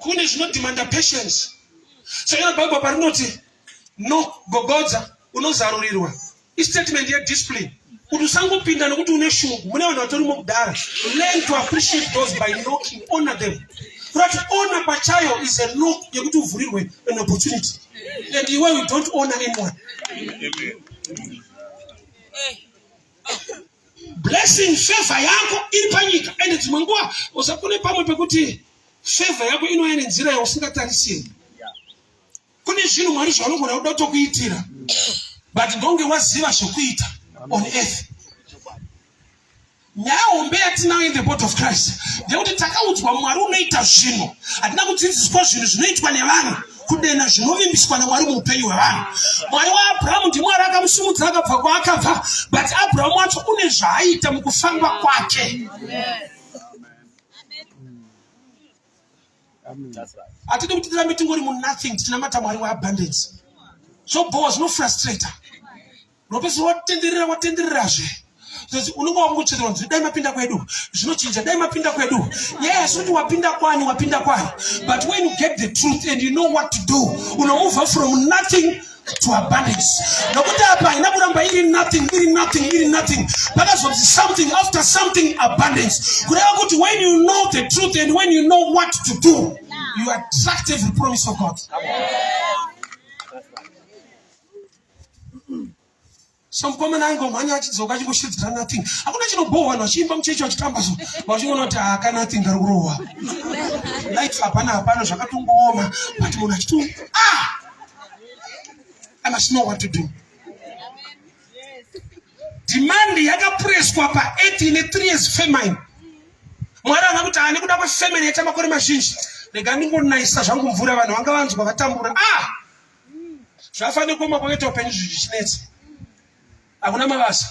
S1: kune zvinodhimanda patience sakana bhaibha parinoti no gogodza unozarurirwa istatement yediscipline kuti usangopinda nokuti une shungu mune vanhu vatorimo kudara learn to appreciate those by knocking honor them kurati honor pachayo is a knock yekuti uvhurirwe an opportunity and iwe you don't honor anyone Amen. blessing favor yako iri panyika ende dzimwe nguva usakune pamwe pekuti favor yako inouya nenzira yausingatarisiri kune zvinhu mwari zvaanogona kuda kutokuitira but ndonge waziva zvekuita on earth nyaya hombe yatinayo in the bot of christ ndekuti takaudzwa mwari unoita zvinhu hatina kudzidziswa zvinhu zvinoitwa nevanhu kudenha zvinovimbiswa namwari muupenyu hwevanhu mwari waabrahamu ndimwari akamusimudza akabva kwaakabva but abrahamu wacho une zvaaita mukufamba kwake hatidi kuti tirambe tingori munothing tinamata mwari weabundance zvobhowa zvinofrustrator unopedzisira watenderera watendererazve because unenge wakungochedzera kunzi dai mapinda kwedu zvinochinja dai mapinda kwedu yes kuti wapinda kwani wapinda kwani but when you get the truth and you know what to do unomuva from nothing to abundance nokuti apa haina kuramba iri nothing iri nothing iri nothing pakazonzi something after something abundance kureva kuti when you know the truth and when you know what to do you attract every promise of god Amen. So mukomana aingomhanya achidzoka achingoshidzira nothing. Hakuna chinobhohwa vanhu vachiimba muchechi vachitamba so vachingoona kuti haka ah, nothing kari kurohwa. Life hapana hapana zvakatongooma but munhu achiti ah I must know what to do. Demand yakapureswa pa 8 ne 3 years famine. Mwari ana kuti ani kuda kwefamine yaita makore mazhinji. Rega ndingonayisa zvangu mvura vanhu vanga vanzwa vatambura. Ah! zvafanira kuoma kwakaita upenyu zvichinetsa hakuna mabasa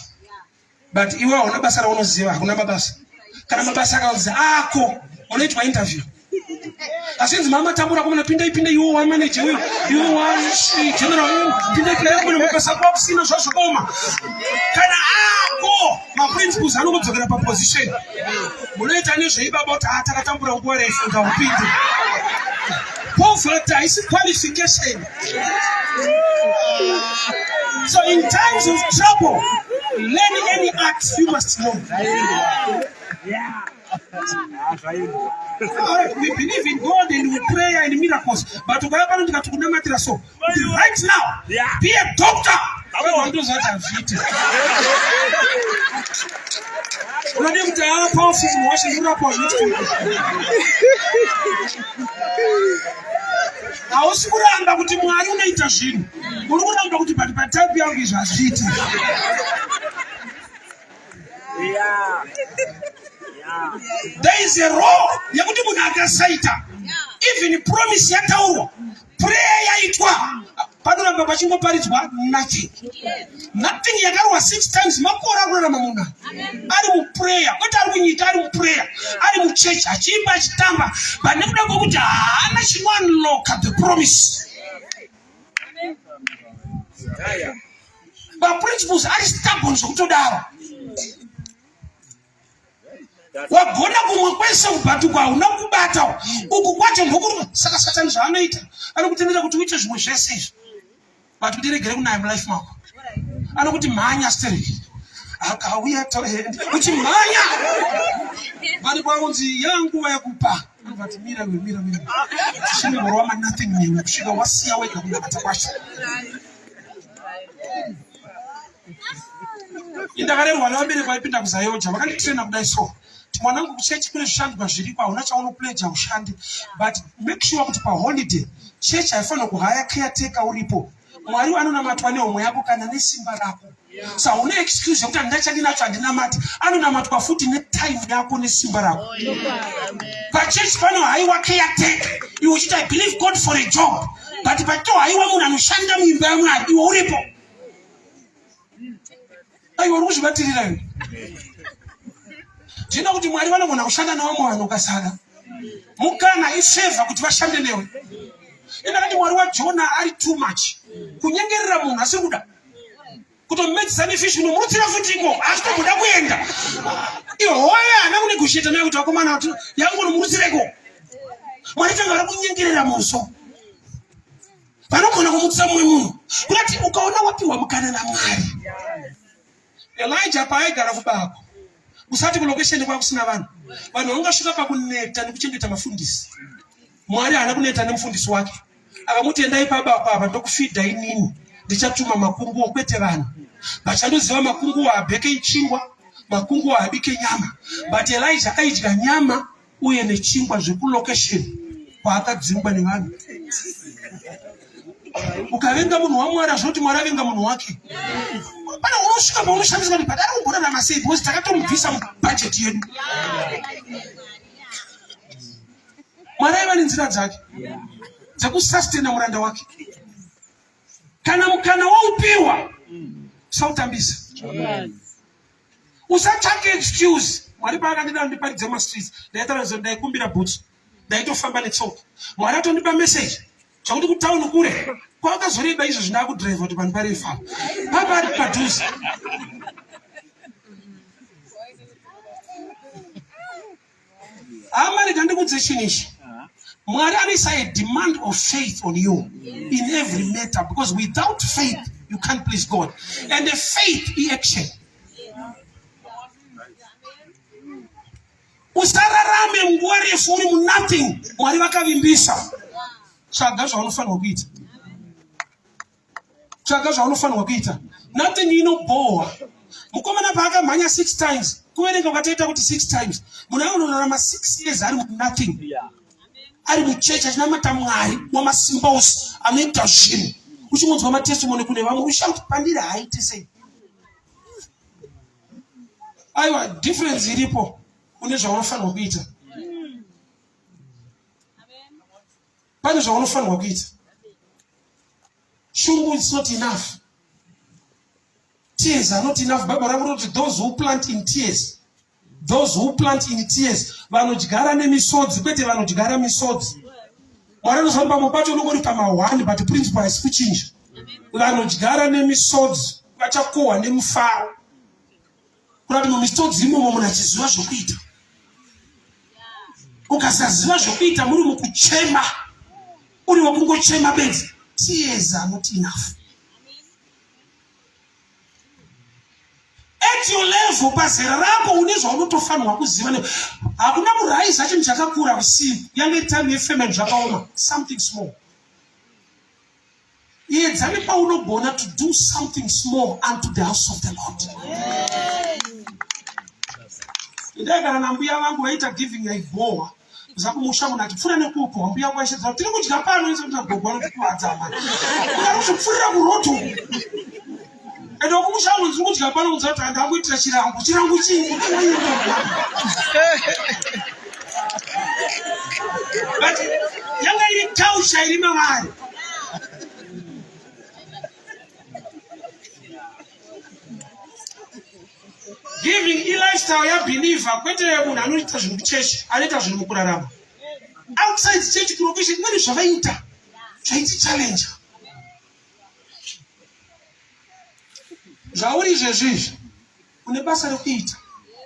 S1: but iwe hauna basa raunoziva hakuna mabasa kana mabasa akazi ako unoitwa interview asinzi mama tambura kumana pindai pindai iwo wa manager uyo iwo wa general uyo pindai pindai kumana mabasa kwakusina zvazvokoma kana ako maprinciples anongodzokera paposition munoita nezveibaba kuti haa takatambura nguva refu ngaupinde poverty haisi qualification so in times of trouble learn any art you must know yeah. we believe in God and we pray and miracles but ukaya pano ndikati kunamatira so right now be a doctor awe wandozvati hazviite unode kuti aa powerful munhu wacho ndurapa hausi kuramba kuti mwari unoita zvinhu uri kuramba kuti but patype yangu izvi hazviiti Yeah. Yeah. There is a role yekuti munhu akasaita even promise yataurwa prayer yaitwa panoramba pachingoparidzwa nothing nothing yakarwa six times makore akurarama munhu ari muprayer kwete ari kunyika ari muprayer ari muchechi achiimba achitamba but nekuda kwekuti haana chinounloka the promise maprinciples ari stubborn zvekutodaro wagona kumwe kwese kubhatukwa hauna kubata uku kwacho ndokuruma saka satani zvaanoita anokutendera kuti uite zvimwe zvese izvi but kuti regere kunaya mulife mako anokuti mhanya stereki akauya toende uchimhanya vari kwaunzi yanguva yakupa vati mira iwe mira mira tichimborwa manothing newe kusvika wasiya wega kunamata kwacho indakarerwa nevabereki vaipinda kuzayoja vakanditraina kudai so mwanangu kuchechi kune zvishandwa zviripo hauna chaunopleja ushande but make sure kuti paholiday chechi haifanira kuhaya caretaker uripo mwari anonamatwa nehomwe yako kana nesimba rako saune excuse yekuti handina chandinacho handinamati anonamatwa futi netime yako nesimba rako pachechi pano haiwa keyatek iwe uchiti i believe god for a job but pato haiwa munhu anoshanda muimba yamwari iwe uripo aiwa uri kuzvibatirira iwe ndina kuti mwari vanogona kushanda nevamwe vanhu ukasada mukana ifeva kuti vashande newe enda kati mwari wajona ari too much kunyengerera munhu asiri kuda kutomedzisa nefish kunomurutsira futi iko achitomboda kuenda ihoya ana kune kusheta naye kuti vakomana vati yangu unomurutsira iko mwari tanga vari kunyengerera muso vanogona kumutisa mumwe munhu kunati ukaona wapiwa mukana namwari elija paaigara kubako usati kulokesheni kwakusina vanhu vanhu vangasvika pakuneta nekuchengeta mafundisi Mwari haana kuneta nemufundisi wake akamuti endai paba apa apa ndokufidha inini ndichatuma makunguwo kwete vanhu vachandoziva makunguwo abheke ichingwa makunguwo abike nyama but elija aidya nyama uye nechingwa zvekulocation kwaakadzingwa nevanhu ukavenga munhu wamwari azvinoti mwari avenga munhu wake pane unosvika paunoshandiswa kuti padari kugorarama sei because takatomubvisa mubhajeti yedu mwari aiva nenzira dzake dzekusastena muranda wake kana mukana waupiwa usautambisa usatsvake excuse mwari paakandida ndiparidze mumastreets ndaitaura zvo ndaikumbira bhutsu ndaitofamba netsoka mwari atondipa message zvakuti kutauni kure kwakazoreba izvo zvindakudriva kuti vanhu parefa papa ari padhuze Hama rega ndikudze chinhu ichi. Mwari anoisa a demand of faith on you in every matter because without faith you can't please God. And the faith i action. Usararame nguva refu uri mu nothing. Mwari vakavimbisa. Tsvaga zvaunofanirwa kuita. tsvaga zvaunofanirwa kuita nothing inobhohwa mukomana paakamhanya six times kuverenga ukatoita kuti six times munhu anonorarama six years ari nothing ari muchechi achina mata mwari wamasimba ose anoita zvinhu uchingonzwa matestimoni kune vamwe ushauti pandiri haaite sei aiwa difference iripo une zvaunofanirwa kuita pane zvaunofanirwa kuita shungu is not enough tears are not enough bible rangu rinoti those who plant in tears those who plant in tears vanodyara nemisodzi kwete vanodyara misodzi mwari anofamba mo pacho unongori pamahwani but principle haisi kuchinja vanodyara nemisodzi vachakohwa nemufaro kurati mumisodzi imomo munhu achiziva zvokuita ukasaziva zvokuita muri mukuchema uri wekungochema benzi tears are not enough at your level pazera rako une zvaunotofanirwa kuziva ne hakuna kuraiza chinhu chakakura kusimu yange time yefamily zvakaoma something small Edza nepaunogona to do something small unto the house of the Lord. Ndai kana nambuya vangu vaita giving yaibhowa zakumusha munhu atipfuura nekuupo wambuya kwaishedzaa tiri kudya pano izoita gogwana tikuvadza mani ukaruzvipfuurira kuroti uku ende kumushango ndiri kudya pano kudza kuti andakuitira chirango chirango chii but yanga iri tausha iri mavari giving ilifestyle yabhilivha kwete munhu anoita zvinhu kuchechi anoita zvinhu mukurarama outside church kulocation imweni zvavaita zvaiti challenge zvauri izvezvi izvi une basa rekuita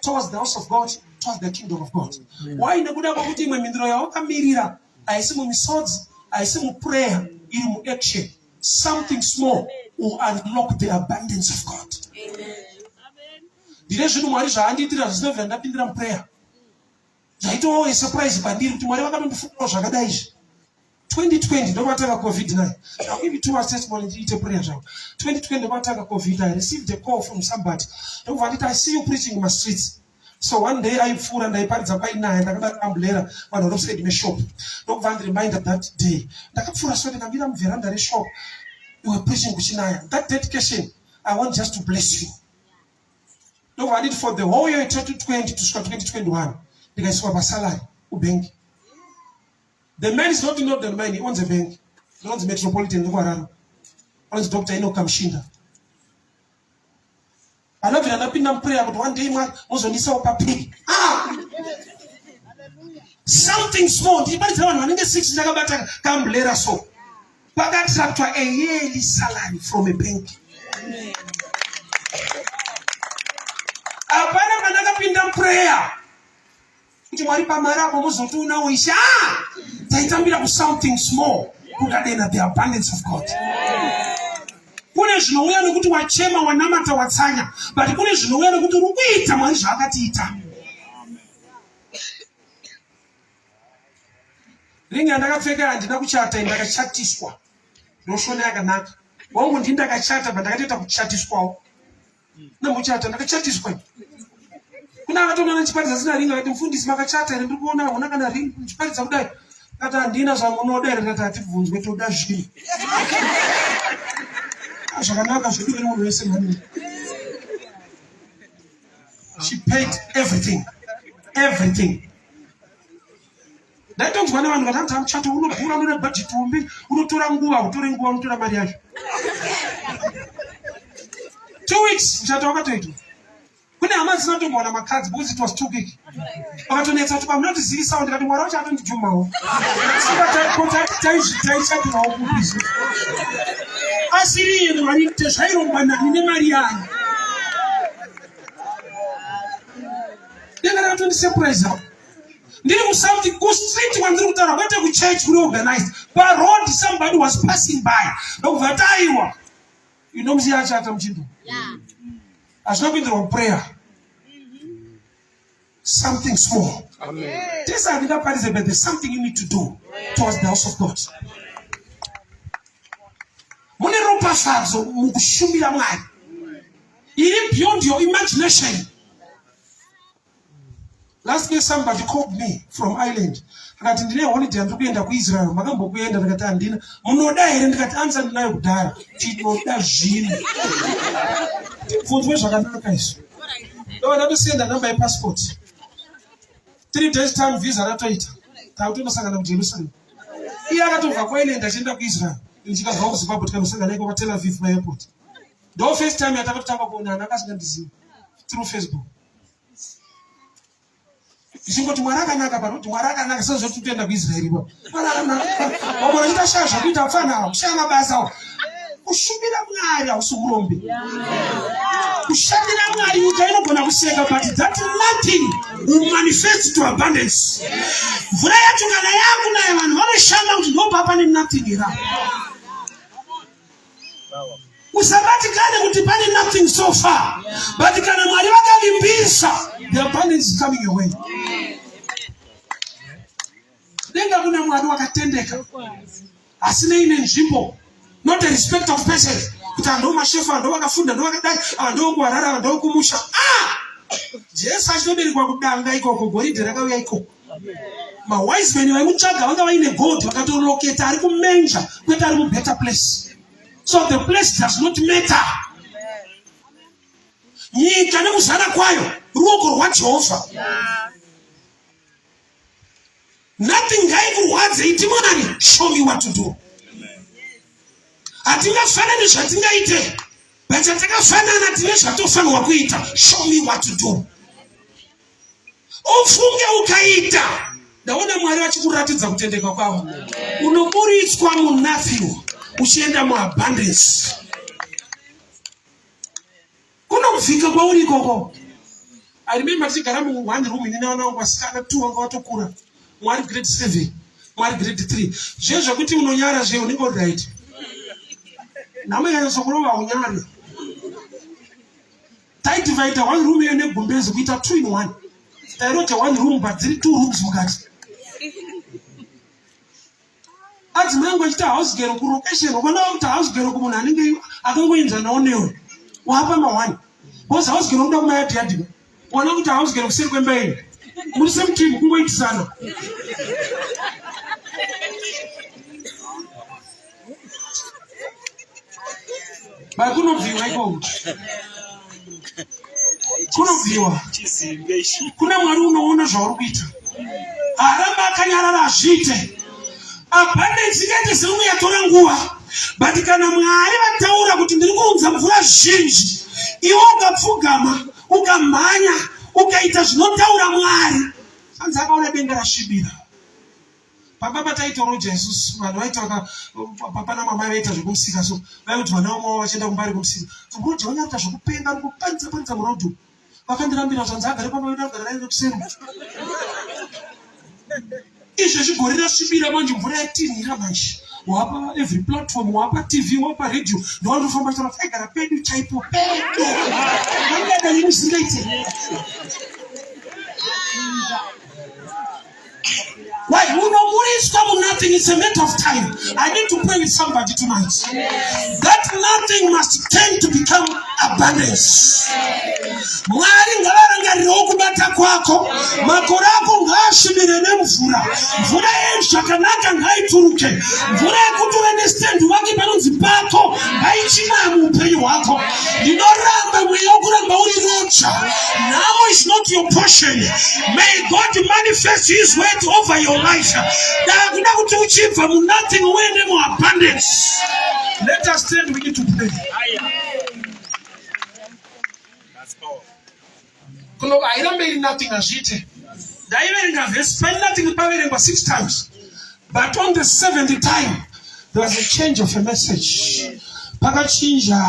S1: towards the house of god towards the kingdom of god why nekuda kwekuti imwe mhinduro yawakamirira haisi mumisodzi haisi muprayer iri muaction something small will unlock the abundance of god ndine zvinhu mwari zvaandiitira zvisina vira ndapindira muprayer Zvaitovawo a surprise pandiri kuti Mwari vakatondifungirawo zvakadai izvi. 2020 ndokwatanga covid 9 I'll give you two hours testimony ndiite prayer zvangu 2020 ndokwatanga covid I received a call from somebody ndokubva nditi I see you preaching in my streets so one day aipfuura ndaiparidza painaya ndakadaro ambulera vanhu vari kuside meshop ndokubva andireminder that day ndakapfuura so ndikamira muvheranda reshop you were preaching kuchinaya that dedication I want just to bless you ndokuvanditi for the whole year 2020 kusvika 2021 ndikaiswa pasalary kubhengi the man is not in order mine he owns a bank ndinonzi metropolitan nekuhararo anonzi dr ino kamshinda anobvira anapinda muprayer kuti one day mwari mozondiisawo papiri ah! something small ndichibaridzira vanhu vanenge six ndakabata kambulera so Pakatsvatswa a yearly salary from a bank. Hapana mwana akapinda muprayer kuti mwari pamari apo mozoti unawo isha ah! taitambira kusomething small kukadena the abundance of God. Kune zvinouya nekuti wachema wanamata watsanya but kune zvinouya nekuti uri kuita mwari zvaakatiita. Ringi randakapfeka handina kuchata, ndakachatiswa. Ndoshona yakanaka. Wangu ndini ndakachata, but ndakatoita kuchatiswawo. Ndamuchata, ndakachatiswa. Kuna akatoona nechiparidza sina ringi, akati mfundisi makachata here ndiri kuona hauna kana ringi muchiparidza kudai. Kati handina zvamunoda here, ndati hatibvunzwe toda zvinhu. Ah, zvakanaka zvedu vene munhu wese mhani. She paid everything. Everything. ndaitonzwa nevanhu vatanzi amuchato unodhura unoda bhajeti hombe unotora nguva utore nguva unotora mari yacho two weeks muchato wakatoitwa kune hama dzisina kutombowana makadzi because it was too quick vakatonetsa kuti pamunotizivisawo ndikati mwari wacho atondijumawo taishatirawo kupizi asiri iye mwari tezvairongwa nani nemari yanyu denga rakato ndisurprise apo ndiri kusouth kustreet kwandiri kutaura kwete kuchurch kuri organized paroad somebody was passing by ndokubva taiwa inomusiya achata muchindo hazvina kuindirwa kuprayer something small tese handingaparidze but there's something you need to do towards the house of god mune ropafadzo mukushumira mwari iri beyond your imagination last year somebody called me from ireland akati ndine holiday andiri kuenda kuisrael makambokuenda ndikati handina munoda here ndikati ansa ndinayo kudhara tinoda zvino tibvunzwe zvakanaka izvo ndo ndatosenda namba yepassport three days time visa ratoita takutonosangana mujerusalem iye akatobva kwailand achienda kuisrael ndichikabva kuzimbabwe tikanosangana iko patel aviv maairport ndo first time yatakatotanga kuonana akasingandizivi through facebook zvichingoti mwari akanaka pano kuti mwari akanaka sezvoti kutoenda kuisraeri ipo mwari akanaka vamwe vachita shaya zvakuita pfanawa kushaya mabasa awo kushumira mwari hausi urombe kushandira mwari nyika inogona kuseka but that nothing will manifest to abundance mvura yacho kana yakunaya vanhu vanoshanda kuti ndopapa nenothing ira usabatikane kuti pane nothing so far but kana mwari vakavimbisa the abundance is coming away denga kuna mwari wakatendeka asi neine nzvimbo not a respect of person kuti anhu mashefu anhu vakafunda anhu vakadai anhu okuwarara anhu okumusha ah! jesu achitoberekwa kudanga ikoko goridhe rakauya ikoko mawise men vaikutsvaga vanga vaine god vakatoroketa ari kumenja kwete ari mubetter place so the place does not matter nyika nekuzara kwayo ruoko rwajehovha nothing ngaikurwadze iti mwari show me what to do hatingafanani zvatingaite but chatakafanana tine zvatofanirwa kuita show me what to do ufunge ukaita ndaona mwari vachikuratidza kutendeka kwavo unoburitswa munafyu uchienda muabundance kunobvika kwauri ikoko i remember tichigara mu one room ini nawana wangu vasikana two wanga watokura mwari grade seven mwari grade three zviye zvekuti unonyara zviye unenge uri right nhamo yanyasokurova unyari taidivaida one room iyo negumbezi kuita two in one tairota one room but dziri two rooms mukati adzimai angu achiti house gero kulocation ukaona kuti house gero kumunhu anenge akangoenzanawo newe wapa mawani bcause house gero unoda kumayadhi yadhiba uona kuti house gero kuseri kwemba yenyu muri same team kungoitisana kunobviwa ikoko kunobviwa kune mwari unoona zvauri kuita haramba akanyarara hazviite abundance ikaite seuno yatora nguva but kana mwari vataura kuti ndiri kuunza mvura zhinji iwe ukapfugama ukamhanya ukaita zvinotaura mwari anzi akaona denga rasvibira pamba pataitoroja isusu vanhu vaiti vaka papa namamai vaita zvekumusika so vaikuti vana vamwe vavo vachienda kumba ari kumusika kumuroja vanyakuita zvekupenga ari kupanza panza murodhu vakandirambira kuti hanzi agare pamba vedu agara raine kuseri izvo zvigore rasvibira manje mvura yatinhira manje wapa every platform wapa tv wapa radio ndowanofamba chara taigara pedu chaipo pedu vangadai musingaite Why? Unomuriswa mu nothing. It's a matter of time. I need to pray with somebody tonight. That nothing must turn to become abundance. Mwari ngavarangarirewo kubata kwako. Makore ako ngaasvibire nemvura. Mvura yezvakanaka ngaituruke. Mvura yekuti uende stand wake panonzi pako ngaichinaya muupenyu hwako. ndinoramba mweya wokuramba uri rotsva nhamo is not your portion may god manifest his word over your life ndakuda kuti uchibva munothing uende muabundance let us stand we need to pray kunova hairambe iri nothing hazviite ndaiverenga vhesi paine nothing paverengwa six times but on the seventh time there was a change of a message pakachinja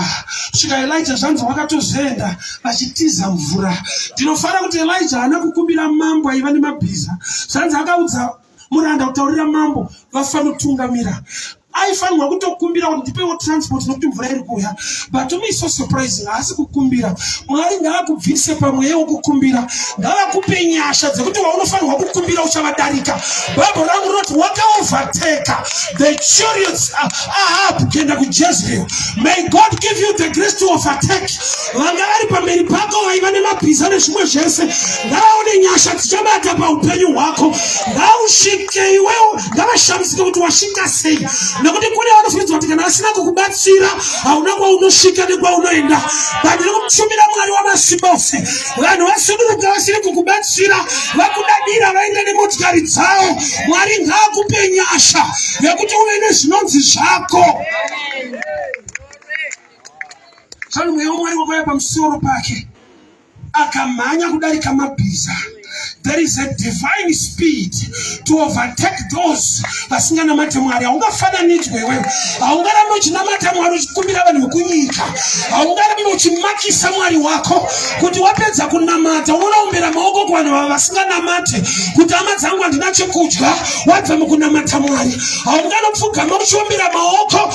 S1: kusvika elija zvanzi wakatozoenda vachitiza mvura ndinofanira kuti elija haana kukumbira mambo aiva nemabhiza zvanzi akaudza muranda kutaurira mambo vafanotungamira aifanirwa kutokumbira kuti ndipewo transport nokuti mvura iri kuuya but me so surprising haasi kukumbira mwari ngaakubvise pamweya wokukumbira ngavakupe nyasha dzekuti waunofanirwa kukumbira uchavadarika bhaibho rangu rinoti wakaovateka the chariots ahab kuenda kujezreel may god give you the grace to overtake vanga vari pamberi pako vaiva nemabhiza nezvimwe zvese ngavaone nyasha dzichabata paupenyu hwako ngausvike iwewo ngavashamisike kuti wasvika sei nekuti kune vanofunidza kuti kana vasina kukubatsira hauna kwaunosvika nekwaunoenda bandiri kutumira mwari wamasimba ose vanhu vasuduruka vasiri kukubatsira vakudadira vaenda nemotikari dzavo mwari ngaakupe nyasha yekuti uve nezvinonzi zvako Amen. Zvanu mweya wamwari wakauya pamusoro pake akamhanya kudarika mabhiza there is a divine speed to overtake those vasinganamate mwari haungafananidzwe iwewe haungarambe uchinamata mwari uchikumbira vanhu vekunyika haungarambe uchimakisa mwari wako kuti wapedza kunamata unoraombera maoko kuvanhu vava vasinganamate kuti hama dzangu handina chekudya wabva mukunamata mwari haunganopfugama uchiombera maoko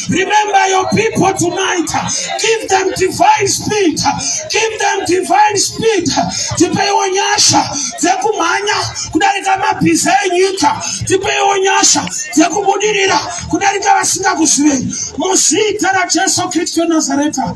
S1: Remember your people tonight. Give them divine speed. Give them divine speed. Tipeiwo nyasha dzekumhanya kudarika mabhiza enyika. Tipeiwo nyasha dzekubudirira kudarika vasingakuzivei. Muzita raJesu Kristu Nazareta.